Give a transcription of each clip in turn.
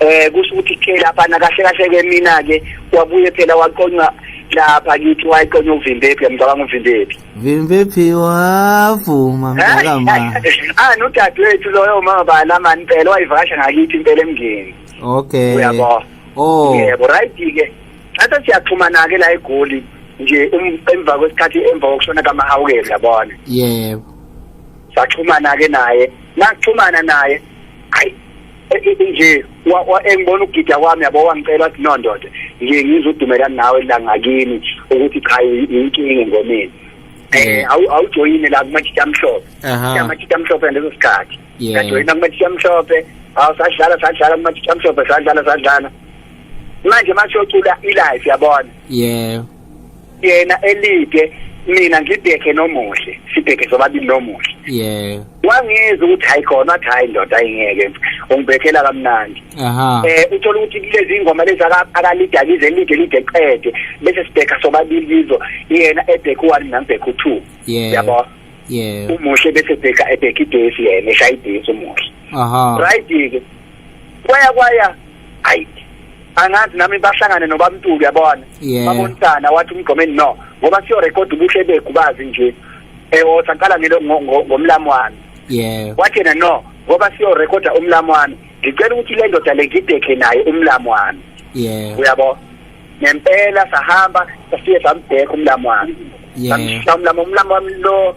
eh kusho ukuthi ke lapha na kahle kahle ke mina ke wabuye phela waqonywa lapha kithi wayiqonya uvimbephi yamcabanga uvimbephi vimbephi wavuma mdala ma ah nodadewethu loyo uma bala mani phela wayivakasha ngakithi impela emngeni okay uyabo oh yebo right ke thatha siyaxhumana ke la egoli nje um, emva kwesikhathi emva kokushona kamahawukeli yabona yebo saxhumana ke naye naxhumana naye hayi nje engibona ukugida kwami yabo wangicela ukuthi no ndoda nje ngizodumelana nawe la ngakini ukuthi cha inkinga engomeni eh awujoyine la kumajita amhlophe kumajita amhlophe leso sikhathi ngajoyina kumajita amhlophe awusadlala sadlala kumajita amhlophe sadlala sadlala manje mashocula ilife yabona yeah yena elide mina ngibheke nomuhle sibheke sobabili nomuhle yeah wangizwa ukuthi hayi khona athi hayi ndoda ayingeke ungibhekela kamnandi aha eh uthola ukuthi kulezi ingoma lezi akalidakize elide elide qede bese sibheka sobabili kizo yena ebheka u1 nambheka u2 yeah yabo yeah umuhle bese bheka ebheka idesi yena eshaya idesi umuhle aha right ke kwaya kwaya ayi angazi nami bahlangane nobamntuli yabona babonisana wathi umgqomeni no ngoba siyo record ubuhle beghu bazi nje ewotha eh, qala ngelo ngomlamu wami yeah wathi yena no ngoba siyo record umlamu wami ngicela ukuthi le ndoda le ngidekhe naye umlamu wami yeah uyabo ngempela sahamba safike sambheka umlamu wami yeah umlamu umlamu wami lo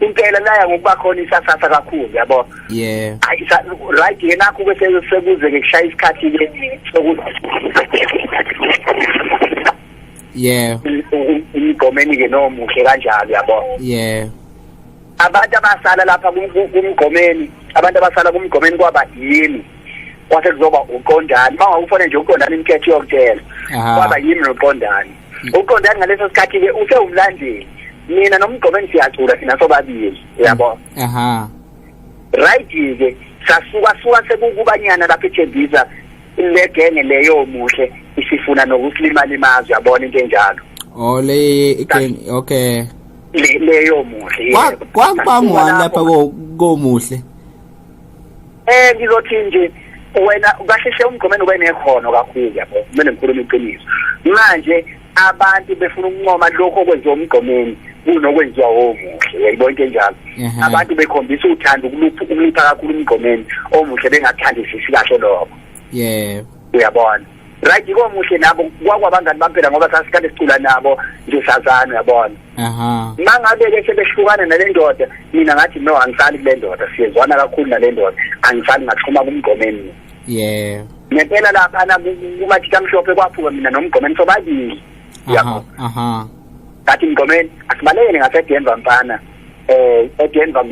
impela laya ngokuba khona isasasa kakhulu yabo yeah ayi right yena akho bese sekuze ngikushaya isikhathi ke sokuthi yeah umgomeni ke nomuhle kanjalo yabo yeah abantu abasala lapha kumgomeni abantu abasala kumgomeni kwaba yini kwase kuzoba uqondani uma ngawufanele nje uqondani imithetho yokutshela kwaba yimi noqondani mm. uqondani ngaleso sikhathi ke usewumlandeli mina nomgqomeni siyacula thina sobabili uyabo aha right ke sasuka suka sekukubanyana lapha eThembisa legenge leyo muhle isifuna nokusilimala imazwi yabona into enjalo oh le igame okay leyo muhle kwakuba ngwani lapha komuhle eh ngizothi nje wena kahle hle umgomeni ube nekhono kakhulu yabo kumele ngikhulume iqiniso manje abantu befuna ukuncoma lokho okwenziwa umgomeni kunokwenziwa omuhle yayibona into enjalo mhm. abantu bekhombisa uthando ukulupha ukulupha kakhulu umgomeni omuhle bengathandisisi kahle lokho yebo uyabona right yiko muhle nabo kwakwabangani bampela ngoba sasikade sicula nabo nje sazana uyabona aha mangabe ke sebehlukana nalendoda mina ngathi no angisali kulendoda siyezwana kakhulu nalendoda angisali ngathuma kumgomeni yeah ngempela lapha na kumathitha mhlophe kwaphuka mina nomgomeni sobabili yabo aha ngathi mgomeni asibalekele ngasedenver mfana eh edenver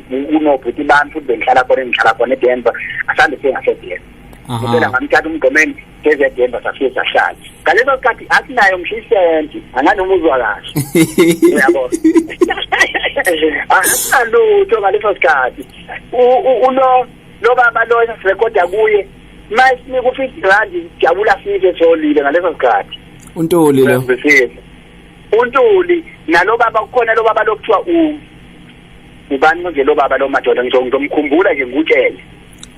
kunobhuti bami futhi bengihlala khona engihlala khona edenver asande sengasedenver ngempela ngamthatha umgomeni ngezedemba safike sahlala ngaleso sikhathi asinayo ngisho isenti anganoma uzwa kahle uyabo asalutho ngaleso sikhathi ulo lo baba lo esirekoda kuye masinika u-fifty rand jabula sife solile ngaleso sikhathi untuli lo untuli nalo baba kukhona lo baba lokuthiwa u ubani nje lo baba lo madoda ngizomkhumbula nje ngikutshele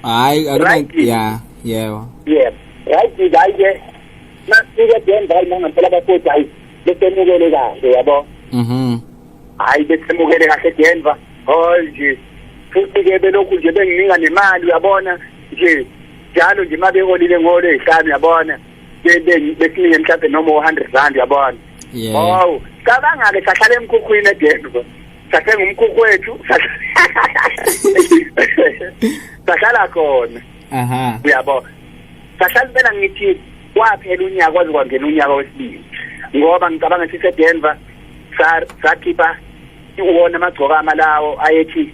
hayi akuna Right. ya yebo yebo right hayi ke nasike denza hayi nangampela bafowethu hayi besemukele kahle yabo mhm hayi besemukele kahle denva hol nje futhi ke belokhu nje bengininga nemali uyabona nje njalo nje uma beholile ngolo ezihlanu uyabona be- be- besinike mhlawumbe noma u-hundred rand uyabona yebo hawu cabanga-ke sahlala emkhukhwini edenva sathenga umkhukhu wethu sahlala khona aha uyabo sahlala impela ngithi kwaphela unyaka kwaze kwangena unyaka wesibili ngoba ngicabanga ukuthi sedenver sakhipha iwona amagcokama lawo ayethi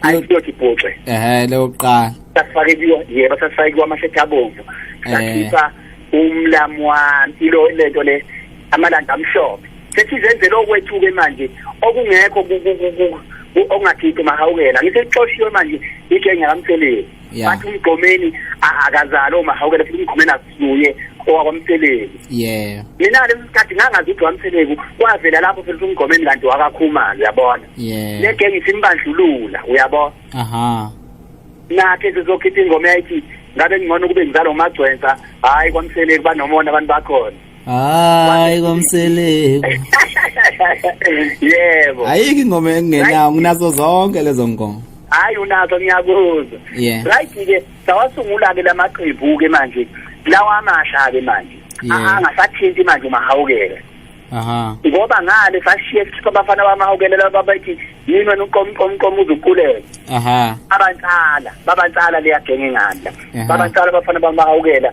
ayiyothi bhuxe ehe leyo kuqala sasifake kuyo yebo sasifake kuyo amashethi abomvu sakhipha umlamu wami ilo lento le amalanda amhlophe sethi zenzele okwethuke manje okungekho okungakhiphi mahawukela ngisexoshiwe manje igenge kamtheleni bathi umgomeni akazali omahawukela futhi umgomeni akusuye owakwamtheleni yeah mina lesi sikhathi ngangazi ukuthi wamtheleni kwavela lapho futhi umgomeni kanti wakakhumalo uyabona yeah le genge isimbandlulula uyabona aha nakhe sizokhipha ingoma yayithi ngabe ngcono kube ngizalo magcwensa hayi kwamtheleni banomona abantu bakhona hayi komseleku yebo ayikho ingoma engenawo nginazo zonke lezo ngoma hayi unazo ngiyakuzwa yeah. right ke sawasungula ke lamaqembu ke manje lawa amasha ke manje yeah. angasathinti manje umahawukela aha ngoba ngale sashiye sikhipha abafana bamahawukelela babathi yini wena uqomqomqom uzukulela aha abantsala babantsala leyagenge nganda babantsala abafana bamahawukela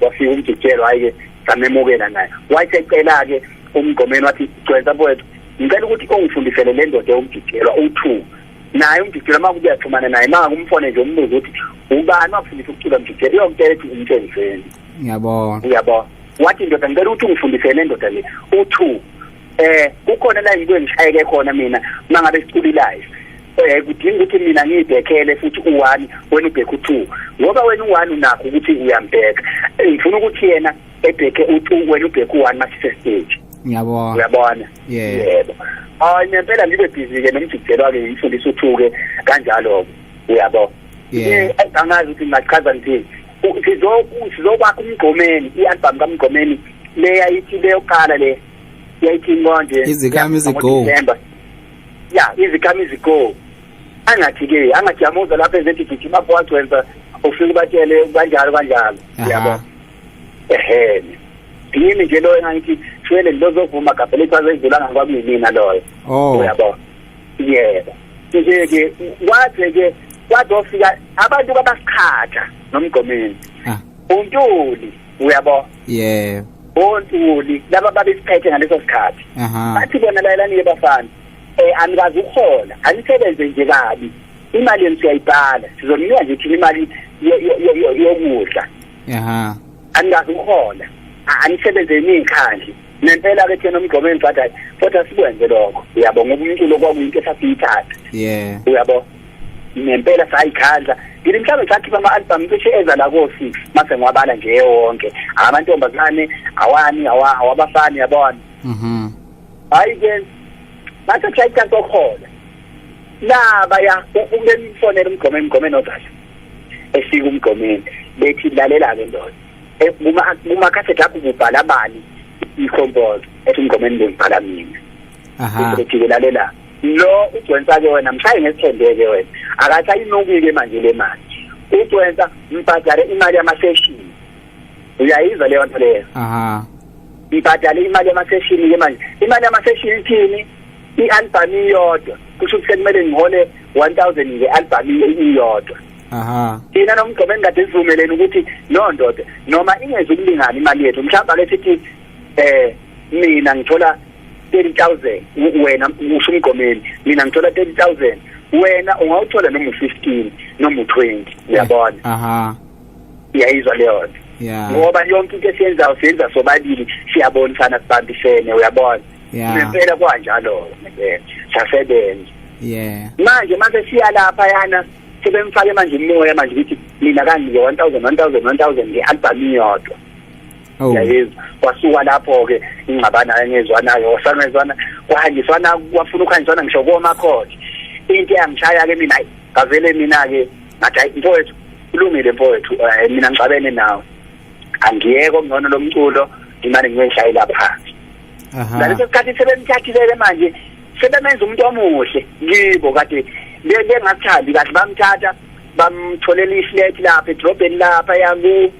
wafika umjikelo hayi-ke samemukela naye wayesecela-ke umgqomeni wathi gcwensa mfowethu ngicela ukuthi ungifundisele le ndoda ewumjikelo uwu-two naye umjikelo uma kubuya xhumana naye uma ngakumfone nje umbuze ukuthi ubani wakufundisa ukucula mjikelo iyomtshela ukuthi umtshenzeni ngiyabona uyabona wathi ndoda ngicela ukuthi ungifundisele le ndoda le u-two eh kukhona la yikwe ngishayeke khona mina mangabe siculilayo eh kudinga ukuthi mina ngibhekele futhi u1 wena ubheke u2 ngoba wena u1 unakho ukuthi uyambheka eh, ngifuna ukuthi yena ebheke u2 wena ubheke u1 masise stage ngiyabona uyabona yebo hayi ngempela ngibe busy ke nomjikelo wake ngifundisa uthuke kanjalo uyabo yeah eh, angazi ukuthi ngachaza nje sizokwakha umgqomeni i-album kamgqomeni leya ithi leyoqala le yayithinwa nje izikhamizi go ya izikhamizi go angathi ke angathi yamuza lapha ezethi gijima bowagcwenza ufike ubatshele kanjalo kanjalo yabo ehe yini nje loyo engangithi shwele lozovuma gabhele ichaza idlulanga kwakunimina loyo oh. uyabo yebo nje ke wathi ke wathi ofika abantu babasiqhatha nomgomeni ah. untuli uyabo yeah ontuli laba babesiphethe ngaleso sikhathi bathi bona layelani yebafana eh anikazi ukuhola anisebenze nje kabi imali yenu siyayibhala sizoninika nje thina imali yokudla aha anikazi ukuhola anisebenze enikhandle nempela ke thina umgqomo engibhadayo kodwa sikwenze lokho uyabo ngoba umculo kwakuyinto esasiyithatha yeah uyabo ngempela sayikhandla ngile mhlawumbe sakhipha ama-albhamu cishe eza la ko-six mase ngiwabala nje ewonke amantombazane awani awabafani yabona mhm. hhayi ke mase kushaya icansi okhona nabaya umemfonela umgome emgome nodala esika umgomeni bethi lalela-ke ndoda e, kumakhasethi akho kubhala bani i-compose ethi umgomeni bengibhala mina ephikelela lela lo ugcwensa ke wena mshaye ngesithembeke wena akasayinukile manje le mali ugcwensa mbhadale imali yamaseshini uyayizwa leyo nto leyo aha mbhadale imali yamaseshini ke manje imali yamaseshini ithini i-albhamu iyodwa kusho ukuthi sekumele ngihole one thousand nge-albhamu iyodwa aha thina nomgqobo engikade sivumeleni ukuthi no ndoda noma ingezi ukulingana imali yethu mhlawumbe ake sithi eh mina ngithola 30000 wena usho umgomeli mina ngithola 30000 wena ungawuthola noma u15 noma u20 uyabona aha iyayizwa leyo nto yeah ngoba yonke into esiyenzayo siyenza sobabili siyabonisana sibambisene uyabona yeah ngempela kwanjalo ngempela sasebenza yeah manje mase siya lapha yana sebemfake manje umoya manje ukuthi mina kangi 1000 1000 1000 nge album iyodwa Oh. yayeza kwasuka lapho ke ingxabana engezwanayo wasangezwana kwahanjiswana kwafuna ukuhanjiswana ngisho koma khona into eyangishaya ke mina ngavele mina ke ngathi hayi mfowethu kulungile mfowethu eh, mina ngixabene nawe angiyeke okungcono lomculo imali ngiyishayela phansi ngaleso sikhathi sebemthathile manje sebemenza umuntu omuhle kibo kade bengathandi kahle bamthatha bamtholela iflat lapha edrobheni lapha yaku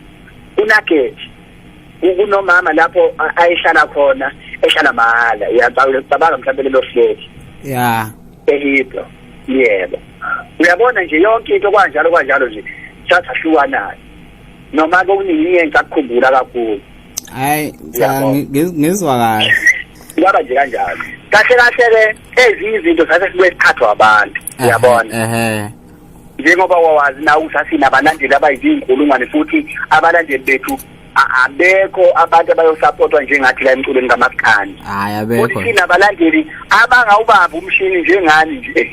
kunageti kunomama lapho ayehlala khona ehlala mahhala uyacabanga mhlawumbe lelo fleti ya ehibro yebo uyabona nje yonke into kwanjalo kwanjalo nje sasahlukanayo noma ke uningi engikakukhumbula kakhulu hayi ngizwa kahle kwaba nje kanjalo kahle kahle ke ezinye izinto sase sibuye sikhathwa abantu uyabona ehe njengoba wawazi na ukuthi asinabalandeli abayizinkulungwane futhi abalandeli bethu abekho abantu abayosapotwa njengathi la emculweni kamaskani hayi abekho futhi sinabalandeli abangawubamba umshini njengani nje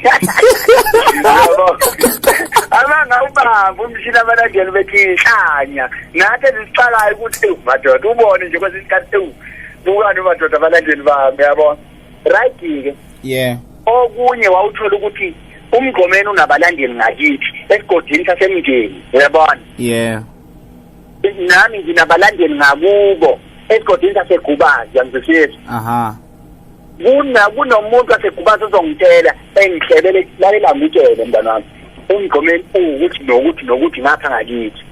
abangawubamba umshini abalandeli bethi inhlanya nathi ezisiqalayo ukuthi madoda ubone nje kwesinye isikhathi ewu bukani madoda abalandeli bami yabona right ke yeah okunye wawuthola ukuthi umgqomeni unabalandeli ngakithi esigodini sasemndeni uyabona yeah nami nginabalandeli ngakubo esigodini sasegubazi yangizwisisa aha kuna kunomuntu wasegubazi ozongitshela engihlebele lalela ngitshele mntana wami umgqomeni ukuthi nokuthi nokuthi ngapha ngakithi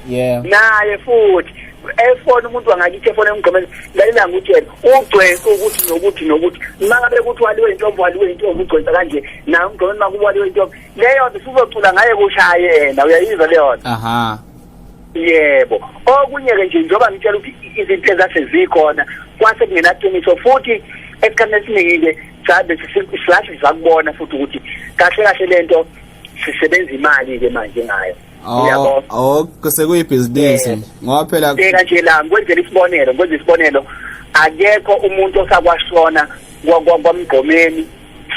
yeah naye futhi efona umuntu wangakithi efona emgqomeni lalela ngutshela ugcwensa ukuthi nokuthi nokuthi mangabe kuthi waliwe intombo waliwe intombo ugcwensa kanje naye umgqomeni makuwaliwe intombo leyo nto sizocula ngaye kushaye yena uyayizwa leyo nto aha yebo okunye-ke nje njengoba ngitshela ukuthi izinto ezase zikhona kwase kungenaqiniso futhi esikhathini esiningi-ke sabe silahle sakubona futhi ukuthi kahle kahle le nto sisebenza imali-ke manje ngayo yabo oh kusekuyibhizinisi ngoba phela bheka nje la ngikwenzela isibonelo ngikwenza isibonelo akekho umuntu osakwashona kwamgqomeni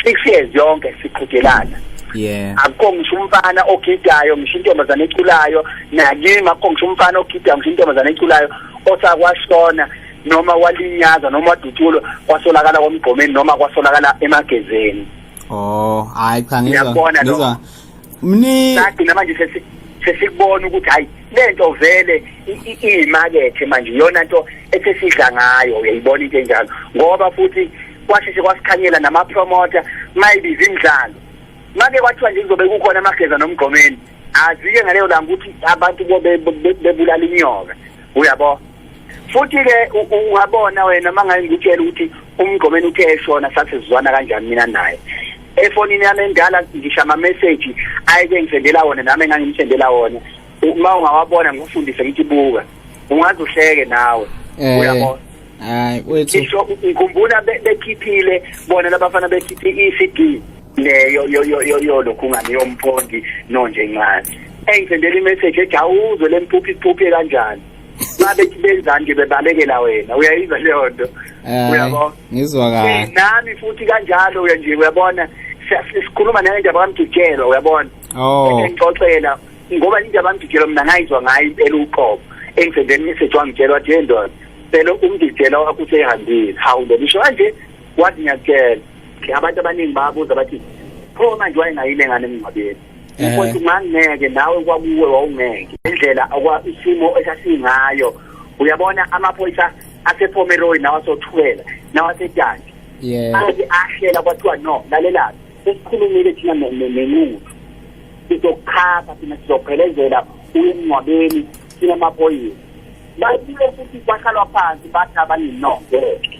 six years yonke siqhudelana yeah akukho ngisho umfana ogidayo ngisho intombazane eculayo nakimi akukho ngisho umfana ogidayo ngisho intombazane eculayo osakwashona noma walinyaza noma wadutshulwa kwasolakala komgqomeni noma kwasolakala emagezeni oh hayi cha ngizwa ngizwa mni sagcina manje sesi sesikubona ukuthi hayi lento vele iyimakethe manje iyona nto esesidla ngayo uyayibona into enjalo ngoba futhi kwasheshe kwasikhanyela namapromoter maybe izimdlalo make kwathiwa nje kuzobe kukhona amageza nomgqomeni azike ngaleyo langa ukuthi abantu bebulala inyoka uyabo futhi ke ungabona wena mangaye ngitshela ukuthi umgqomeni uthe eshona sathi sizwana kanjani mina naye efonini yami endala ngisho ama-message ayeke ngisendela wona nami engangimsendela wona uma ungawabona ngikufundise ngithi buka ungaze uhleke nawe eh, uyabona hayi wethu ngikhumbula bekhiphile bona labafana bekhiphe i-cd le yo yo yo yo yo lokhu ngani yomphondi no nje incane engizendela imessage ethi awuzwe lempuphi iphuphe kanjani babe benzani nje bebalekela wena uyayizwa leyo nto eh, uyabona ngizwa kahle eh, nami futhi kanjalo uya nje uyabona sikhuluma naye nje abamdujelwa uyabona oh ngixoxela ngoba into abamdujelwa mina ngayizwa ngayo impela uqobo engizendela imessage wangitshela wathi yendoda phela umdidela wakho usehambile hawu ndomisho kanje wathi ngiyakutshela abantu abaningi babuza bathi pho manje wayengayile ngane emngcwabeni ukuthi ungangeke nawe kwakuwe wawungeke indlela isimo esasingayo uyabona amaphoyisa asepomeroy nawasothwela nawasetyanti athi ahlela kwathiwa no lalelani sesikhulumile thina nenqubo sizokhapha thina sizophelezela uyemngcwabeni sinamaphoyisa babuye futhi kwahlalwa phansi bathi abaninongeke